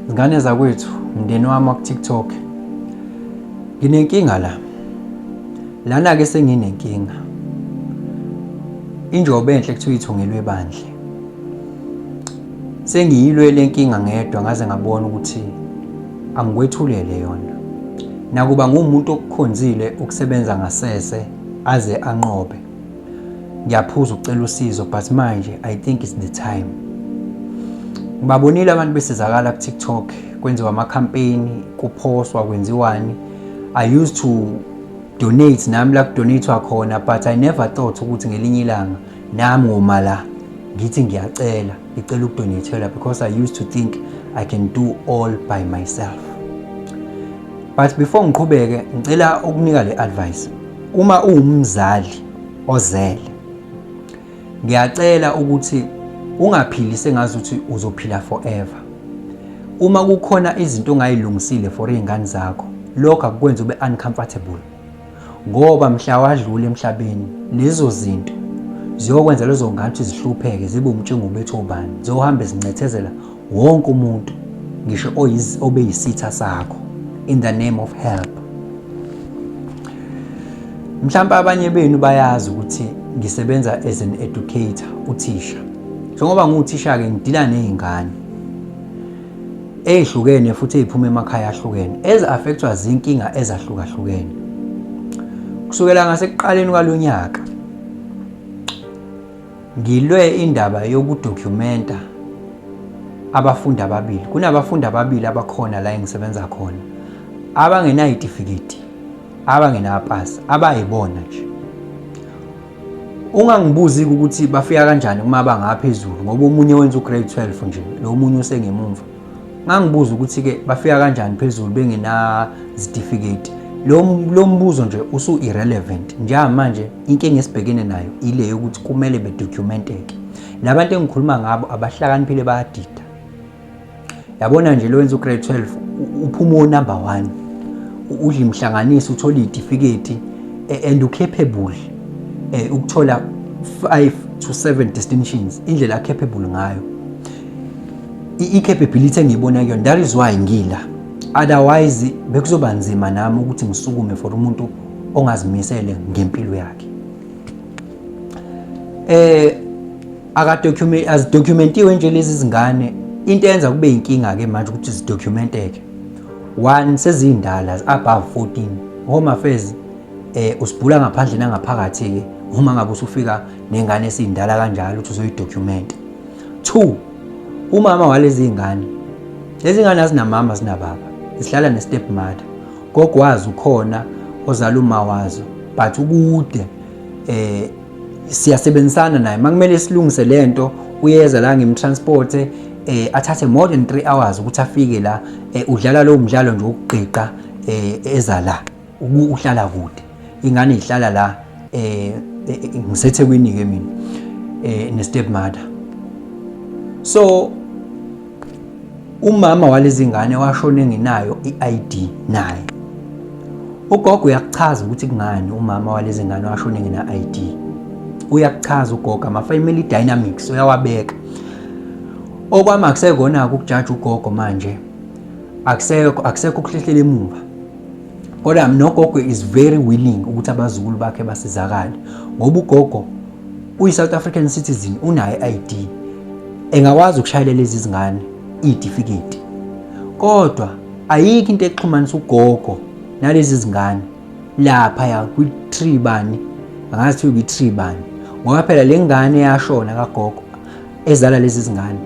Zingane zakwethu, mndeni wami waku-TikTok. Nginenkinga la. Lana ke senginenkinga. Injobe enhle kuthiwa ithungelwe bandle. Sengiyilwe lenkinga ngedwa ngaze ngabona ukuthi angikwethulele yona. Nakuba ngumuntu okukhonzile ukusebenza ngasese aze anqobe. ngiyaphuza ukucela usizo but manje i think it's the time ngibabonile abantu besizakala ku-tiktok kwenziwa amakhampeyini kuphoswa kwenziwani i used to donate nami la kudonatwa khona but i never thought ukuthi ngelinye ilanga nami ngoma la ngithi ngiyacela ngicela ukudonathelwa because i used to think i can do all by myself but before ngiqhubeke ngicela ukunika le advice Uma uwumzali ozele ngiyacela ukuthi ungaphili sengazi ukuthi uzophila forever uma kukhona izinto ongayilungisile for izingane zakho lokho akukwenza ube uncomfortable ngoba mhla wadlula emhlabeni lezo zinto ziyokwenza lezo ngane ukuthi zihlupheke zibe umtshingo bethu obani zohamba zincethezela wonke umuntu ngisho obeyisitha sakho in the name of help mhlawumbe abanye benu bayazi ukuthi ngisebenza as an educator uthisha njengoba ngiwuthisha-ke ngidila ney'ngane ey'hlukene futhi ey'phuma emakhaya ahlukene ezi-affectwa zinkinga ezahlukahlukene kusukela ngasekuqaleni kwalo nyaka Ngilwe indaba yokudokumenta abafundi ababili. Kunabafundi ababili abakhona la engisebenza khona abangenayitifiketi, abangenapasi, abayibona nje. Ungangibuzi ukuthi bafika kanjani uma bangaphezulu ngoba omunye wenza ugrade 12 nje, lo omunye usengemumva. Ngangibuza ukuthi ke bafika kanjani phezulu bengenazitifiketi. Lo mbuzo nje usu irrelevant njengamanje Inkinga esibhekene nayo ile yokuthi kumele bedocumenteke. Labantu engikhuluma ngabo abahlakaniphile bayadida. Yabona nje lowenza ugrade 12 uphuma onumber 1. Udla imhlanganiso uthola idifiketi e, and ucapable eh, ukuthola 5 to 7 distinctions indlela acapable ngayo. I-capability engiyibona kuyona that is why ngila. Otherwise bekuzoba nzima nami ukuthi ngisukume for umuntu ongazimisele ngempilo yakhe eh akadocument azidocumentiwe nje lezi zingane into eyenza kube inkinga ke manje ukuthi zidocumenteke one sezindala above 14 home affairs eh usibhula ngaphandle nangaphakathi ke uma ngabe usufika nengane esindala kanjalo ukuthi uzoyidocument two umama walezi ngane lezi ngane azinamama zinababa zihlala ne stepmother Gogo wazi ukhona ozala umawazo but ukude eh siyasebenzisana naye makumele silungise lento uyeza la ngimtransport eh athathe more than 3 hours ukuthi afike la eh, udlala lo mdlalo nje ukugqiqa eh eza la uhlala kude ingane ihlala la eh, eh, eh ngisethekwini ke mina eh ne stepmother so umama walezi ngane washona enginayo i-ID naye ugogo uyakuchaza ukuthi kungani umama walezi ngane washona engina-ID uyakuchaza ugogo ama-family dynamics uyawabeka okwami akusekona-ke ukujaja ugogo manje akusekho akusekho ukuhlehlela emuva kodwa nogogo is very willing ukuthi abazukulu bakhe basizakale ngoba ugogo uyi-south african citizen unayo i-id engakwazi ukushayela lezi zingane iy'tifiketi kodwa ayikho into exhumanisa ugogo nalezi zingane laphaya kwi-tree bani angazi kuthiwa kwi-tree bani ngoba phela le ngane yashona kagogo ezala lezi zingane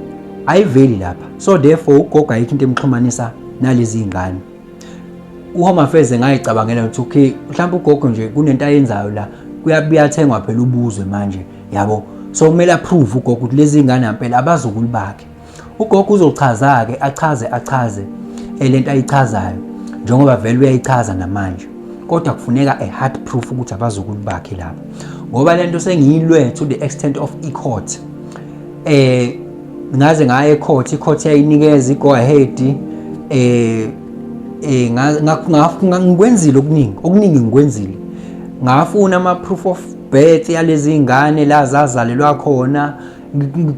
ayiveli lapha so therefore ugogo ayikho into emxhumanisa nalezi ngane uHome Affairs ngayicabangela ukuthi okay mhlawumbe ugogo nje kunento ayenzayo la kuyabuyathengwa phela ubuzwe manje yabo so kumele approve ugogo ukuthi lezi ngane ampela abazukulu bakhe ugogo uzochaza ke achaze achaze elento ayichazayo njengoba vele uyayichaza namanje kodwa kufuneka a hard proof ukuthi abazukulu bakhe laba ngoba lento sengiyilwe to the extent of e-court eh ngaze ngaya ecourt icourt yayinikeza i-go ahead eh eh ngikwenzile okuningi okuningi ngikwenzile ngafuna ama-proof of birth yalezi zingane la zazalelwa khona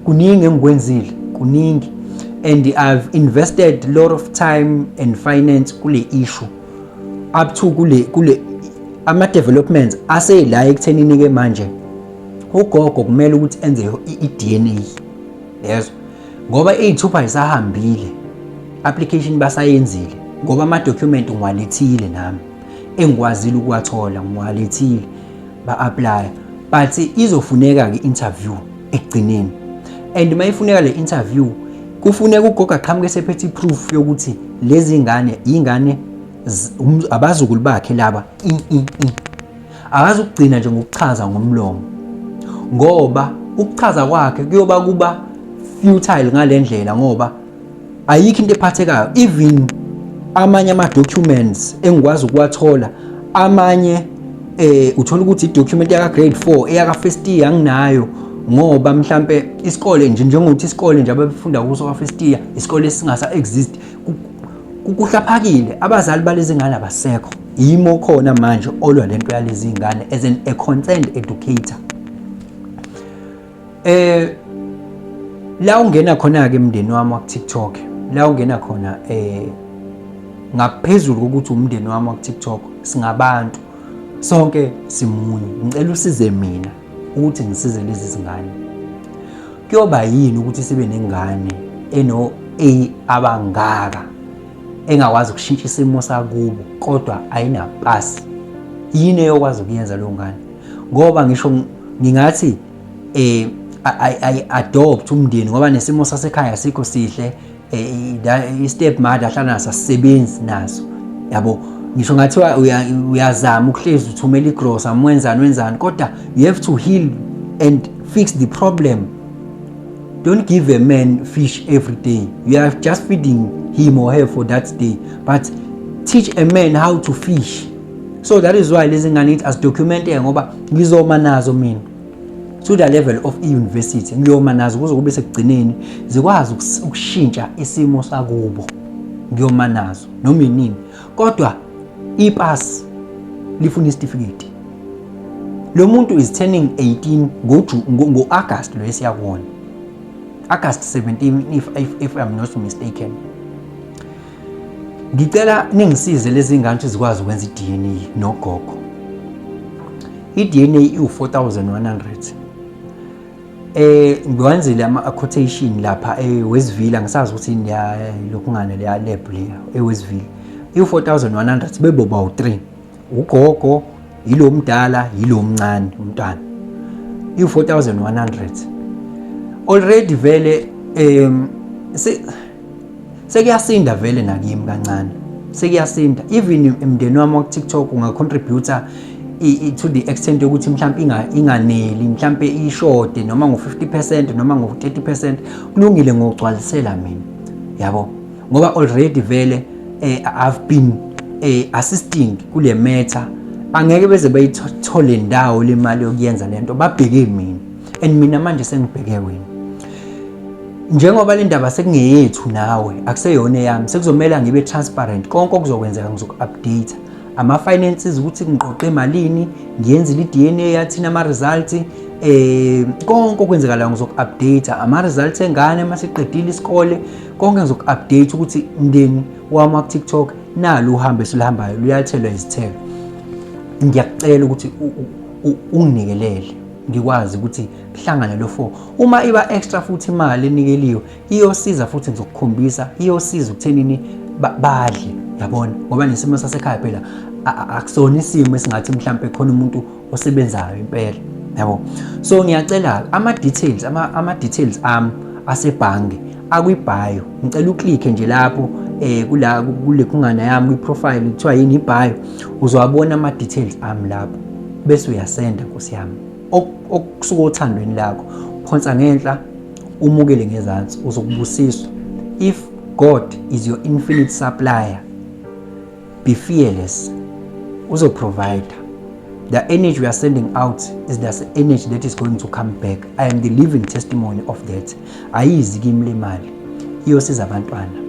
kuningi engikwenzile kuningi and i've invested a lot of time and finance kule issue up to kule kule ama-developments aseyila ekuthenini-ke manje ugogo kumele ukuthi enze i-DNA yezwa ngoba iy'thupha ayisahambile application basayenzile ngoba ama-document ngiwalethile nami engikwazile ukuwathola ngiwalethile ba-aplaya but izofuneka-ke interview ekugcineni and uma ifuneka le interview kufuneka ugogo aqhamuke sephethe i-proof yokuthi lezi ngane yingane um, abazukulu bakhe laba Akazi ukugcina nje ngokuchaza ngomlomo ngoba ukuchaza kwakhe kuyoba kuba futile ngale ndlela ngoba ayikho into ephathekayo even amanye ama-documents engikwazi ukuwathola amanye eh uthola ukuthi i-document yaka grade 4 eyaka first year anginayo ngoba mhlambe isikole nje njengokuthi isikole nje ababefunda kuso ka first year isikole singasa exist kuhlaphakile abazali balezi ngane abasekho yimo khona manje olwa lento yalezi ngane as an a concerned educator eh la ungena khona ke emndeni wami wa TikTok la ungena khona eh ngaphezulu kokuthi umndeni wami wa TikTok singabantu sonke simunye ngicela usize mina ukuthi ngisize lezi zingane kuyoba yini ukuthi sibe nengane eno A abangaka engakwazi ukushintsha isimo sakubo kodwa ayinapasi yini eyokwazi ukuyenza leyo ngane ngoba ngisho ngingathi eh adopt umndeni ngoba nesimo sasekhaya sikho sihle eh, i-step mother hlala naso asisebenzi naso yabo ngisho ngathiwa uyazama ukuhlezi uthumela igrosa mwenzani wenzani kodwa you have to heal and fix the problem don't give a man fish every day you are just feeding him or her for that day but teach a man how to fish so that is why lezi ngane ithi azidocumente ngoba ngizoma nazo mina to the level of i-university ngiyoma nazo kuze kube sekugcineni zikwazi ukushintsha isimo sakubo ngiyoma nazo noma inini kodwa ipasi lifuna isitifiketi lo muntu is turning 18 ngo-agast lo esiyakona agast 17 if, if, if i'm not mistaken Ngicela ningisize lezi ngane ukuthi zikwazi ukwenza i-DNA nogogo. I-DNA iwu-4100. Eh ngiwenzile ama quotation lapha eWestville eh, angisazi ukuthi yini lokungane le lab le eWestville. Eh, iwu-4100 beboba u-3. ugogo yilo mdala yilo mncane umntwana i-4100 already vele um sekuyasinda vele nakimi kancane sekuyasinda even emndeni wami wakutiktok ungacontributa to the extent yokuthi mhlawumpe inganeli mhlawumpe ishode noma ngo-50 percent noma ngo-30 percent kulungile ngokugcwalisela mina yabo ngoba already vele eh, I've been eh, assisting kule matter angeke beze bayithole ndawo le mali yokuyenza lento babheke mina and mina manje sengibheke wena njengoba le ndaba sekungeyethu nawe akuseyona eyami sekuzomela ngibe transparent konke okuzokwenzeka ngizoku-update ama-finances ukuthi ngiqoqe emalini ngiyenzile i-dna yathina ama-results eh konke okwenzekalayo ngizoku-update ama-results engane uma siqedile isikole konke ngizoku-update ukuthi mndeni wami waku-tiktok nalu uhambe esiluhambayo luyathelwa izithelo ngiyakucela ukuthi unginikelele ngikwazi ukuthi kuhlangane lo four uma iba extra futhi imali enikeliwe iyosiza futhi ngizokukhombisa iyosiza ukuthenini badle yabona ngoba nesimo sasekhaya phela akusona isimo esingathi mhlawumbe khona umuntu osebenzayo impela yabo so ngiyacela ama details ama, ama details am asebhange akwibhayo ngicela uklikhe nje lapho eh kula kule khungana yami kwi profile kuthiwa yini ibhayo uzowabona ama details am lapho bese uyasenda nkosi yami okusuka othandweni lakho phonsa ngenhla umukele ngezansi uzokubusiswa if god is your infinite supplier Be fearless. Uzo provider. The energy we are sending out is the energy that is going to come back. I am the living testimony of that. Ayizi kimi le mali. Iyosiza abantwana.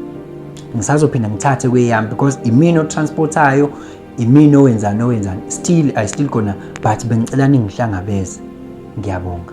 Ngisazophinda ngithathe kweyami because imina otransportayo, imina owenzani owenzani. Still I still gonna but bengicela ningihlangabeze. Ngiyabonga.